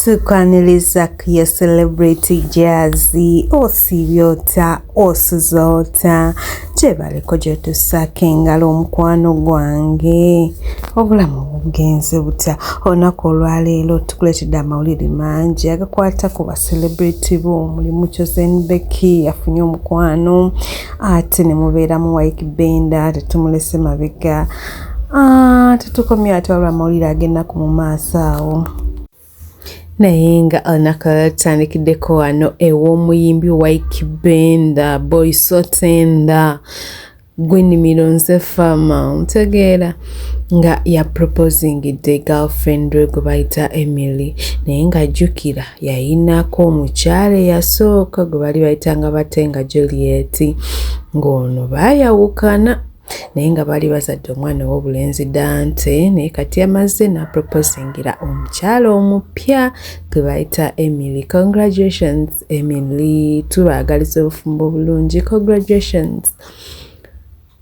Tukwaniriza ku ya celebrity jazzy osiibye otya osuza otya gyebaliko gyotusaako engalo omukwano gwange obulamu bugenze butya olunaku olwaleero tukuleetedde amawulire mangi agakwata ku ba celebrity bo mulimu chosen becky yafunye omukwano ate ne mubeeramu wike benda tetumulese mabega Ah, tetukomye ate waliwo amawulire agenda ku mu maaso awo naye nga olunaku lwala tutandikiddeko wano ew'omuyimbi wike benda boy sotenda gwenimiro nze fama ntegeera nga ya proposingidde girlfriend we gwe bayita emily naye ng'ajjukira yayinako omukyala eyasooka gwe bali bayitanga bate nga juliet ng'ono baayawukana naye nga baali bazadde omwana ow'obulenzi dante naye kati yamaze naproposingira omukyala omupya gwe bayita emily congratulations emily tubaagaliza obufumbo obulungi congratulations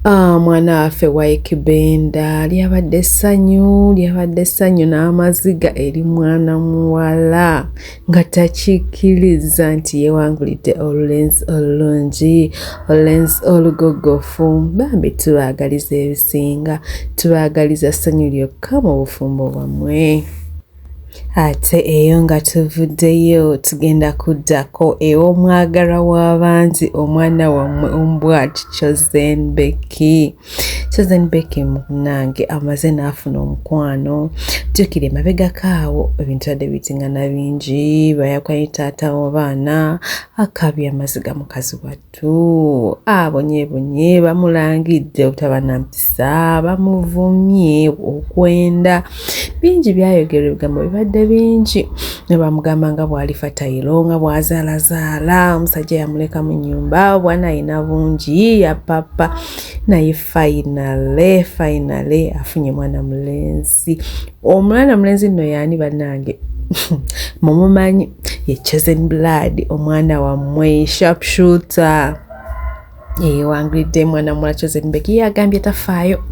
Ah, mwana waffe waikibenda lyabadde essanyu lyabadde essanyu n'amaziga eri mwana muwala nga takikirizza nti yewangulidde olulenzi olulungi olulenzi olugogofu bambi tubaagaliza ebisinga tubaagaliza ssanyu lyokka mu bufumbo bwammwe ate eyo nga tuvuddeyo tugenda kuddako ew'omwagala w'abangi omwana wammwe ombwa kicozenbeki Susan Becky munange amaze n'afuna omukwano jjukira emabegako awo ebintu yadde bitingana bingi bayakwani taata wabaana akabya amaziga mukazi wattu abonyebonye ah, bamulangidde obutaba na mpisa bamuvumye okwenda bingi byayogerwa ebigambo bibadde bingi ne bamugamba nga bw'alifa tayiro nga bw'azaalazaala omusajja yamuleka mu nnyumba obwana alina bungi yapapa naye fainale fainale afunye mwana mulenzi omwana mulenzi nno yaani bannange mumumanyi ye chosen blood omwana wammwe sharp shooter yewangulidde mwana mula chosen beki yagambye tafaayo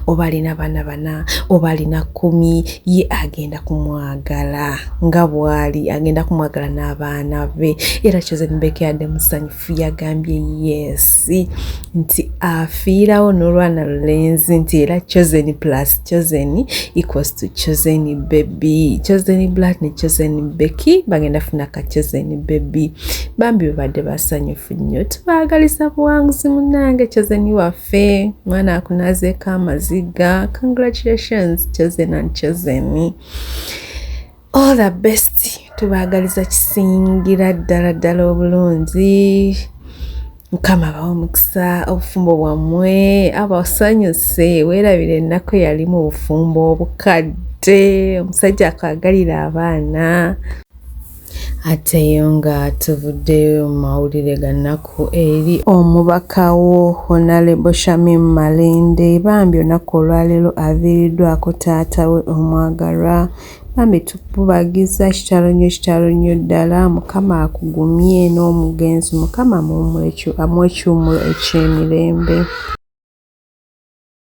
oba alina baana bana oba alina kkumi ye agenda kumwagala nga bwali agenda kumwagala n'abaana be era chosen beki adde musanyufu Fu yagambye yesi nti afiirawo n'olwana lulenzi nti era chosen plus chosen equals to chosen baby chosen black ne chosen becky bagenda funa ka chosen baby bambi bebadde basanyufu nnyo tubaagaliza buwanguzi munange chosen waffe mwana akunazeeko amaziga congratulations chosen and chosen all the best tubaagaliza kisingira ddala ddala obulungi mukama abawa omukisa obufumbo bwammwe abasanyuse weerabira ennaku eyali mu bufumbo obukadde omusajja akwagalira abaana ateyo nga tuvuddeyo mu mawulire ga nnaku eri omubaka wo honalebo shamim malende bambi onaku olwaleero aviiriddwako taata we omwagalwa Bambi tukububagiza kitalo nnyo kitalo nnyo ddala mukama akugumye n'omugenzi mukama amuwe ekyumulo ekyemirembe.